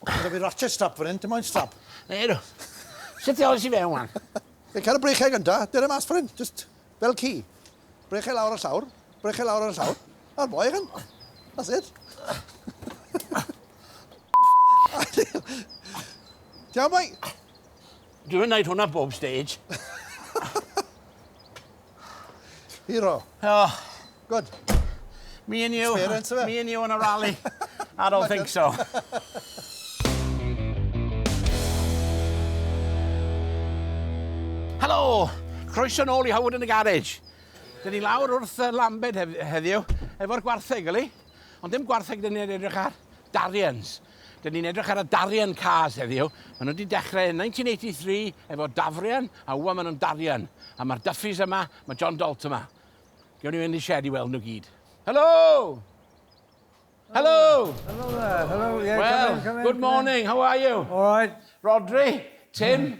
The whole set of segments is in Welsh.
Gyda fi ratchet strap fan hyn, dim moyn strap. Neu do. Sut ti oes i fe wan? Fe cael y brechau gynta, dyr e mas fan hyn, just fel ci. Brechau lawr ar llawr, brechau lawr ar y llawr. A'r boi hyn. That's it. Tiawn boi? Dwi'n neud hwnna bob stage. Hero. Oh. Good. Me and you. Me and you on a rally. I don't think so. Helo! Croeso nôl i Howard yn y Garage. Dyn ni lawr wrth y Lambed heddiw, efo'r gwartheg, yli? Ond dim gwartheg dyn ni'n edrych ar, Darians. Dyn ni'n edrych ar y darian cars heddiw. Maen nhw wedi dechrau yn 1983 efo dafrian, a wwa maen nhw'n darian. A mae'r Duffys yma, mae John Dalt yma. Gewn ni fynd i shed i weld nhw gyd. Helo! Helo! Helo there, helo, yeah, Well, come in, come in. good morning, how are you? All right. Rhodri, Tim,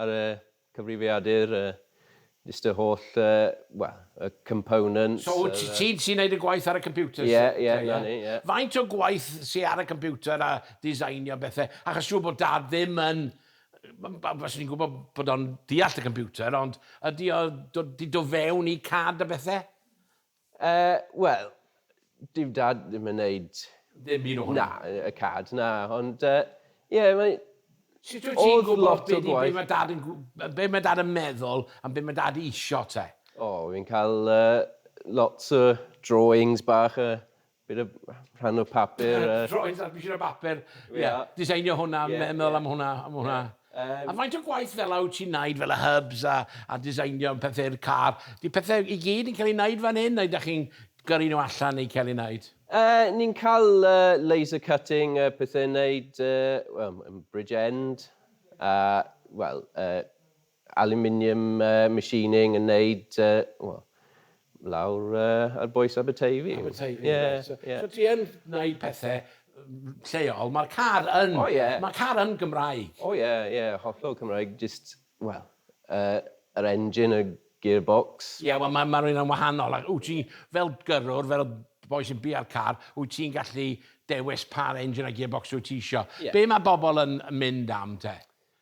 Ar y cyfrifiadur, jyst y holl, wel, y components. So wyt ti'n ti'n neud y gwaith ar y computer? Ie, ie, na ni, ie. Faint o gwaith sy ar y computer a designio bethe? Achos siŵr bod Dad ddim yn, faswn i'n gwybod bod o'n deall y computer, ond ydy o 'di do fewn i cad a bethe? Yy, wel, dyw Dad ddim yn neud... Ddim un o hwnna? Na, y cad, na, ond yy, ie, mae... Sut wyt ti'n gwybod be di, be ma Dad yn gw- be ma Dad yn meddwl am be ma Dad isio te? O, fi'n cael yy, lots o drawings bach a Bydd y rhan o papur... Droed, a bydd y papur. Ie, diseinio hwnna, meddwl am hwnna, am hwnna. A faint o gwaith fel yna wyt ti'n wneud fel y hubs a, a diseinio pethau'r car? Di pethau i gyd yn cael ei wneud fan hyn neu da chi'n gyrru nhw allan neu cael ei wneud? Yy, ni'n cael laser cutting a pethau yn wneud, wel, yn Bridgend a, wel, yy, Aluminium machining yn neud yy wel lawr yy ar bwys Aberteifi. Aberteifi ie. Reit so so ti yn neud pethe lleol ma'r car yn... O ie. ...ma'r car yn Gymraeg. O ie ie hollol Cymraeg jyst wel yy yr engine y gearbox. Ie wel ma' ma' rheina'n wahanol ac wt ti fel gyrrwr fel boi sy'n bia'r car wyt ti'n gallu dewis pa'r engine a gearbox wyt ti isio. Ie. Be' ma' bobol yn mynd am te?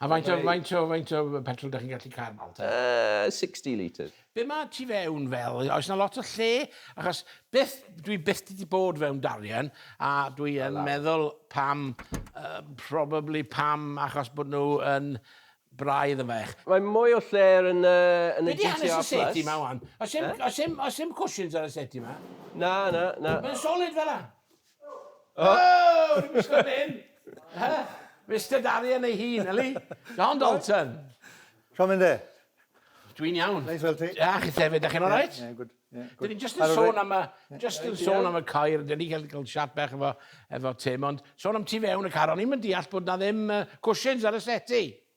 A faint o, faint o, faint o petrol da chi'n gallu cael nawr te? Uh, 60 litres. Be mae ti fewn fel? Oes na lot o lle? Achos byth, dwi byth wedi bod fewn darian, a dwi yn meddwl pam, uh, probably pam achos bod nhw yn braidd yn fach. Mae mwy o lle yn, uh, yn y GTR Plus. Be di hanes y seti ma wan? Os dim, os dim, os dim cushions ar y seti ma? Na, na, na. Mae'n solid fel la? O! O! Dwi'm isio fyn 'yn! Yy! Mister Darian ei hun, yli? John Dalton! Shwmae myn de? Dwi'n iawn. Neis weld ti. A chithe efyd, 'dach chi'n alright? Ie, ie, good, ie, good. 'Dyn ni jyst yn sôn am y jyst yn sôn am y coir, 'dyn ni ga'l ga'l chat bach efo efo Tim, ond sôn am tu fewn y car, o'n i'm yn deall bod 'na ddim yy cushions ar y settee.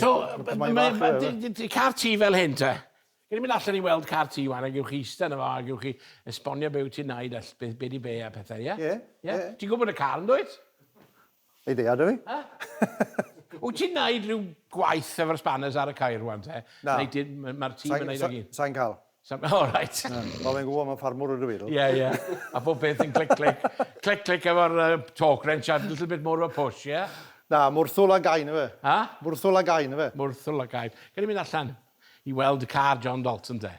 So, mae car ti fel hyn te. Gyd i'n mynd allan i weld car ti wan, a gewch chi eista yna fo, a gewch chi esbonio be wyt ti'n naid, a beth be di be a pethau, ie? Ie, ie. Ti'n gwybod y car yn dwyt? Ei ddeia, dwi. Wyt ti'n naid rhyw gwaith efo'r spanners ar y cair wan te? Na. Mae'r tîm yn naid o gyd? Sa'n cael. Sam- O, oh, reit. Wel, fi'n gwybod mae'n ffarmwr ydw i, ddo. Ie, ie. A bob peth yn clic, clic. Clic, clic efo'r uh, torque wrench a little bit more of a push, ie? Yeah? Na, mwrthwl a gain efe. Ha? Mwrthwl a gain efe. Mwrthwl a gain. Gyd i'n mynd allan i weld y car John Dalton, de.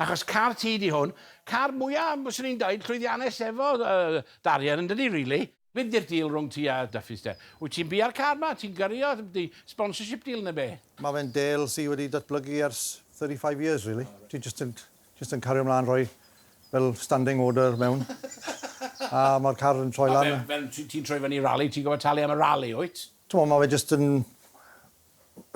Achos car ti di hwn, car mwyaf, bys ni'n dweud, llwyddiannus efo uh, darian yn dydi, really. Be di'r deal rhwng ti a Duffys de? Wyt ti'n biau'r car ma? Ti'n gyrrio? Ydy sponsorship deal neu be? Ma fe'n deal sy wedi datblygu ers thirty five years really. Dwi jyst yn jyst yn cario mlan rhoi fel standing order mewn a ma'r car yn troi lan a... A fel ti'n troi fyny rali ti'n gorfod talu am y rali wyt? T'mo ma fe jyst yn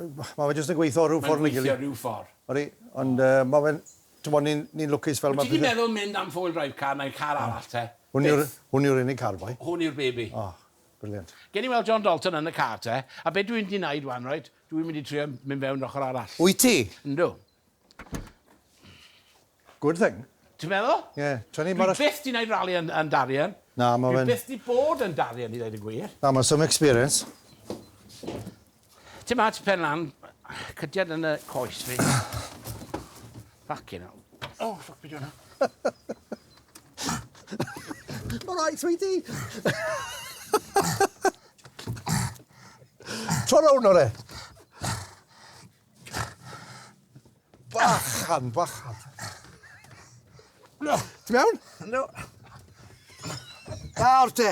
Mae fe jyst yn gweithio rhyw ffordd neu gilydd. Mae'n gweithio rhyw ffordd. Odi, ond mae fe'n... Timod, ni'n lwcus fel mae... Wyt ti 'di meddwl mynd am four-wheel drive car neu car arall te? Byth. Hwn yw'r unig car, boi. Hwn yw'r baby. O, brilliant. Gewn ni weld John Dalton yn y car te, a be dwi mynd i wneud 'wan, reit, dwi'n mynd i trio mynd fewn yr ochr arall. Wyt ti? Yndw. Good thing. Ti'n meddwl? Ie. Tra ni'n bara... Dwi byth 'di neud rali yn yn Darien. Na, ma' fe'n... Dwi byth 'di bod yn Darien i ddeud y gwir. Na, ma'n some experience. Ti'n mat pen lan, cydiad yn y coes fi. Ffycin hell. O, ffwc, be' 'di wnna? Ma' rai sweetie! Tro rownd o re! Bachan, bachan. Ti'n mewn? No. Nawr te,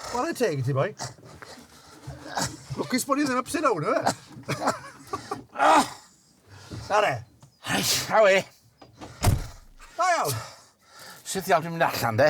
chwarae teg i ti, boi. Lwcus bod ni ddim upside down, yw e? Sare. Awe. Da iawn. Sut iawn dwi'n mynd allan, de?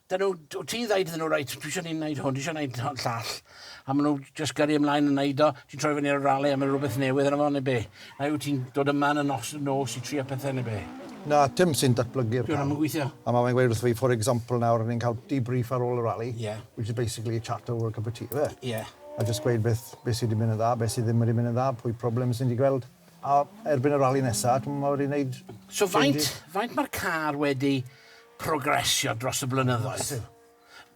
Dyn nhw, wyt ti'n ddeud iddyn nhw, reit, dwi eisiau ni'n gwneud hwn, dwi eisiau gwneud hwn llall. A maen nhw jyst gyrru ymlaen yn gwneud o, ti'n troi fyny ar y rale a mae rhywbeth newydd yna fo neu be? Neu wyt ti'n dod yma yn y nos, nos i trio pethau neu be? Na, Tim sy'n datblygu'r cam. Dyn nhw'n gweithio. A mae fe'n gweud wrth fi, for example nawr, ni'n cael debrief ar ôl y rali, yeah. which is basically a chat over a cup of tea, ife? Yeah. A jyst gweud beth, beth sydd wedi mynd yn dda, beth sydd ddim wedi mynd yn dda, pwy problem sy'n wedi gweld. A erbyn y rali nesaf, mae wedi gwneud... So faint, faint mae'r car wedi... progresio dros y blynyddoedd.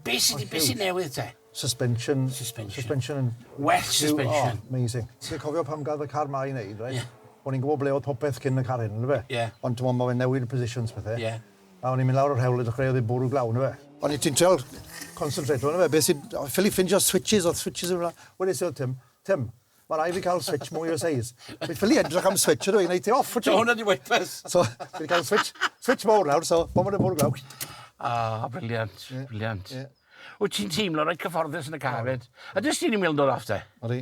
Be sy 'di... Be sy newydd te? Suspension. Suspension. Suspension yn... Well suspension. Oh, amazing. Ti'n cofio pan gath y car ma i neud, reit? Ie. O'n i'n gwbod ble oedd popeth cyn y car hyn, yndyfe? Ie. Ond t'mod ma' fe'n newid positions pethe. Ie. A o'n i'n mynd lawr yr hewl a dechreuodd e bwrw glaw, yndyfe? O'n i ti'n trial concentrate yndyfe? Be sy... Ffili ffindio switches, o'dd switches yn... Wedes i wrth Tim, Tim, Mae rhaid fi cael switch mwy o seis. Fi'n ffili edrych am switch ydw i, neu ti off, wyt ti? Hwna di wipers. So, fi wedi cael switch, switch mawr nawr, so, bod yn y bwrw glaw. Ah, briliant, yeah. briliant. Yeah. Wyt ti'n teimlo rhaid cyfforddus yn y car fyd? A dys ti'n i'n meddwl dod off te? Odi.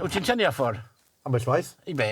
Wyt ti'n tynnu off o'r? Am bell waith. I be?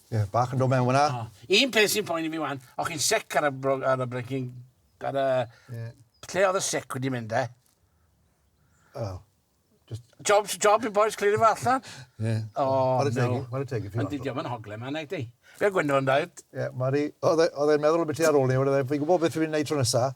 Ie, bach yn dod mewn fyna. O. Un peth sy'n poeni mi wan, o'ch chi'n sec ar y, bro, ar y breaking... Ar y... Yeah. Lle oedd y sec wedi mynd, e? Wel, just... Job, job i boys clir i fa allan. Ie. O, no. Mae'n y teg i fi. Ond diolch yn hogle ma, neu di. Fe gwynno yn dweud. Ie, Mari, oedd e'n meddwl beth i ar ôl ni, oedd e'n gwybod beth fi'n gwneud tro nesaf.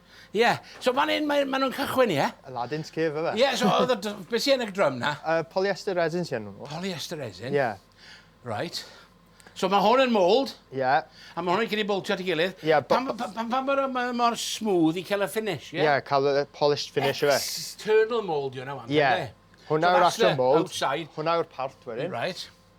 Ie, so fan 'yn mae... ma' nw'n cychwyn ie? Y ladins cef yfe? Ie so o'dd y dr- be' sy yn y drum 'na? Yy polyester resin sy arnyn nw. Polyester resin? Ie. Reit. So ma' hwn yn mould. Ie. A ma' hwn yn cyd i boultio at 'i gilydd. Ie b- pam b- pam pam pam bod o ma' mor smooth i ca'l y finish ie? Ie ca'l y y polished finish yfe? External mould yw wnna ŵan. Ie. Hwnna yw'r actual mould. Outside. Hwnna yw'r part wedyn. Reit.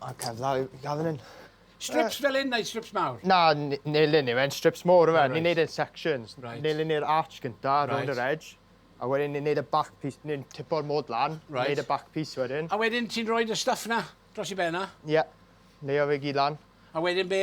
A cef dda i gael fan hyn. Strips fel hyn neu strips mawr? Na, nilyn yw e'n strips mawr yw e. Ni'n neud e'n sections. Right. Nilyn ni'r arch gynta, right. round yr edge. A wedyn ni'n neud y back piece, ni'n tipo'r mod lan, right. neud y back piece wedyn. A wedyn ti'n rhoi y stuff na dros i ben na? Ie, yeah. leio fe gyd lan. A wedyn be?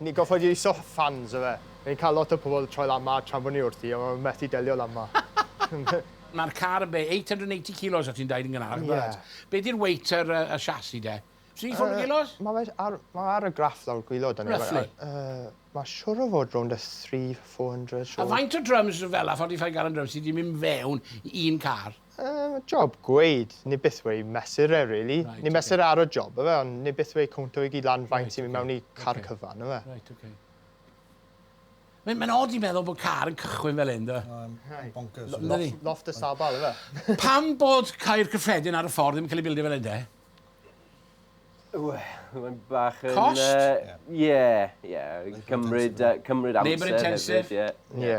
Ni'n gorfod iwso fans yfe. Ni'n cael lot o pobl troi lan 'ma tra bod ni wrthi, ond maen methu delio lan 'ma. Mae'r car yn be, 880 kilos o' ti'n deud yn gynharach yn barod? Ie. Be di'r weight yr yy y chassis de? 340 kilos? Yy ma' fe ar ma' ar y graff lawr gwilod arno fe. Roughly? Yy ma' siŵr o fod rownd y three, four hundred siŵr. A faint o drums fela, forty five gallon drums, sy 'di mynd fewn i un car? Yy job gweud ni byth weu mesur e rili. Right, ni mesur okay. ar y job yfe ond ni byth weu cwnt o'i gyd lan faint right, sy'n mynd okay. mewn i car okay. cyfan yfe. Right, okay. Mae'n mae odd i'n meddwl bod car yn cychwyn fel hyn, da. Bonkers. Loft y sabal, efe. Pam bod cair cyffredin ar y ffordd ddim yn cael ei bildio fel hyn, de? Mae'n bach yn... Cost? Ie, ie. Cymryd amser. Labour intensive? Ie.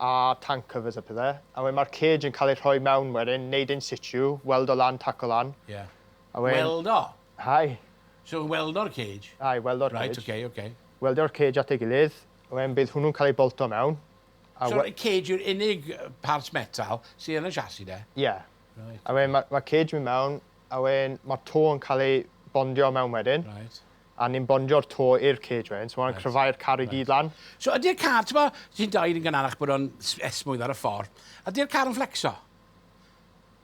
a tank covers a pethe, a wedyn ma'r cage yn cael ei rhoi mewn wedyn, neud in situ, weldo lan, taco lan. Ie. A wedyn... Weldo? Hai. So weldo'r cage? Hai, weldo'r cage. Right, okay, okay. Weldo'r cage at ei gilydd, a wedyn bydd hwnnw'n cael ei bolto mewn. So y cage yw'r unig part metal sydd yn y chassis de? Ie. Yeah. Right. A wedyn ma'r ma cage mynd mewn, a wedyn ma'r to yn cael ei bondio mewn wedyn. Right. a ni'n bondio'r to i'r cage wedyn, so ma' hwnna'n cryfhau'r car i gyd lan. So ydi'r car, t'mo', ti'n deud yn gynharach bod o'n s- esmwyth ar y ffordd, ydi'r car yn fflecso?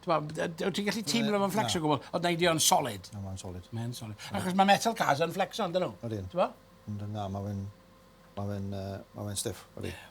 T'mo', b- yy d- wyt ti'n gallu teimlo fo'n fflecso o Na. gwbl? O na, ydi o'n solid? Na, ma'n solid. Mae yn solid. Achos ma' metal cars yn fflecso, yndyn nhw? Odyn. T'mo'? Ond na, ma' fe'n, ma' fe'n yy, ma' fe'n stiff, odi. Ie.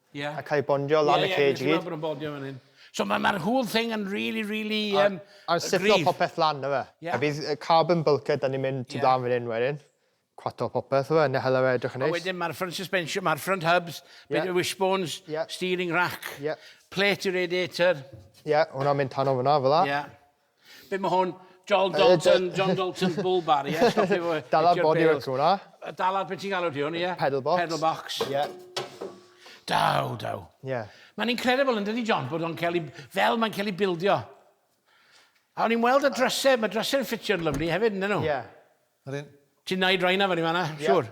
Ie. A cael bondio lan y cage i gyd. Ie ie fi'n gweld bod nhw'n bondio fan hyn. So ma' ma'r whole thing yn rili rili yym gryf. A siplo popeth lan yfe. Ie. A bydd yy carbon bulkhead yn mynd tu blaen fan hyn wedyn. Cwato popeth yfe ne' hala fe edrych yn neis. A wedyn ma'r front suspension ma'r front hubs. Ie. Bit o wishbones. Ie. Steering rack. Ie. Plate radiator. Ie hwnna'n mynd tano fynna fela. Ie. Be mae hwn? John Dalton, John Dalton's bull bar, ie? Yeah? Stop efo... Dala'r bodywork hwnna. Dala'r, beth ti'n galw ti hwn, ie? Yeah? Pedal box. Pedal box. Ie. Yeah. Daw, daw. Ie. Yeah. Mae'n incredible yn dydi, John, bod o'n cael ei... Fel mae'n cael ei bildio. A o'n i'n weld y drysau, mae drysau'n ffitio'n lyflu hefyd, ydyn nhw? Ie. Yeah. Ti'n naid rhain na fan i fanna, yeah. siwr?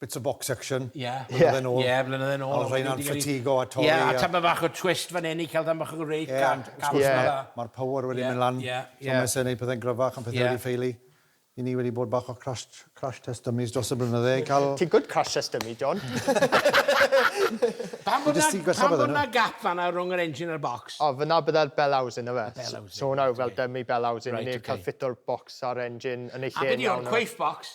bits of box action blynydde nôl. Ie, blynydde nôl. Oedd rheina'n ffatigio a torri. Ie, a tamed bach o twist fan hyn i cael tamed bach o rake cam. Ie, mae'r power wedi mynd lan. Ie, ie. So mae eisiau gwneud pethau'n gryfach a pethau wedi ffeili. I ni wedi bod bach o crash test dummies dros y blynydde i cael... Ti'n good crash test dummy, John. Pam bod 'na gap fan'na rhwng yr engine a'r box? O, fan'na byddai'r bell housing ife. Y bell housing. So hwnna yw fel dummy bell housing i ni cael ffito'r bocs a'r engine yn ei lle. A be 'di hwn, coif box?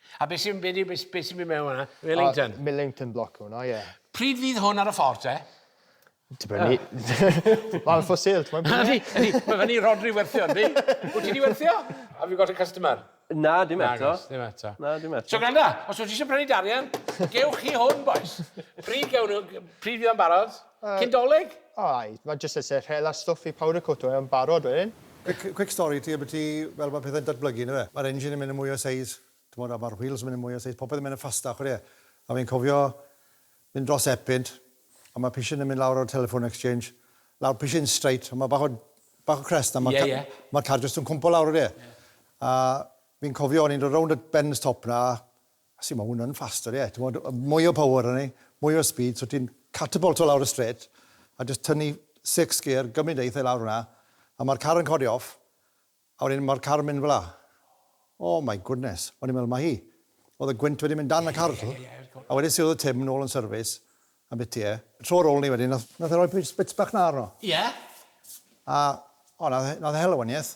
A beth sy'n mynd i mewn hwnna? Millington? Uh, Millington bloc hwnna, ie. Yeah. Pryd fydd hwn ar y ffordd te? Dibynnu. Wel, for sale, ti'n mynd? Ydy, ydy. Mae fyny Rodri werthio, ydy? Wyt ti di werthio? Have you got a customer? Na, dim eto. Dim eto. Na, dim eto. So gwranda, os wyt ti eisiau prynu darian, gewch chi hwn, boys. Pryd gewn nhw, pryd fydd o'n barod? Yy. Cyn doleg? O ai, ma jyst isie rhel a stwff i powder coato fe yn barod wedyn. Quick quick stori i ti ambyti fel ma pethe'n datblygu yndyfe. Ma'r engine yn mynd yn mwy o seis t'mod a ma'r wheels yn mynd yn mwy o seis popeth yn mynd yn fastach wed e. A fi'n cofio mynd dros Epynt a ma pishin yn mynd lawr o'r telephone exchange lawr pishin straight a ma bach o bach o crest a ma ca- Ie ie. ma car jyst yn cwmpo lawr wed e. Ie. A fi'n cofio o'n i'n dod rownd y bend stop na A sut mae hwnna'n faster, ie, timod, mwy o power arna ni, mwy o speed, so ti'n catapulto lawr y straight, a jyst tynnu six gear gymryd e eitha' i lawr fan'na, a mae'r car yn codi off, a wedyn mae'r car yn mynd fel'na. Oh my goodness, o'n i'n meddwl mai hi. Oedd y gwynt wedi mynd dan y car, tibod. A wedyn siwrdodd Tim nôl yn service, a bytu e. Tro ar ôl 'ny wedyn, nath, nath e roi bits bach 'na arno. Ie. A, o, nath e, nath e hel y wanieth,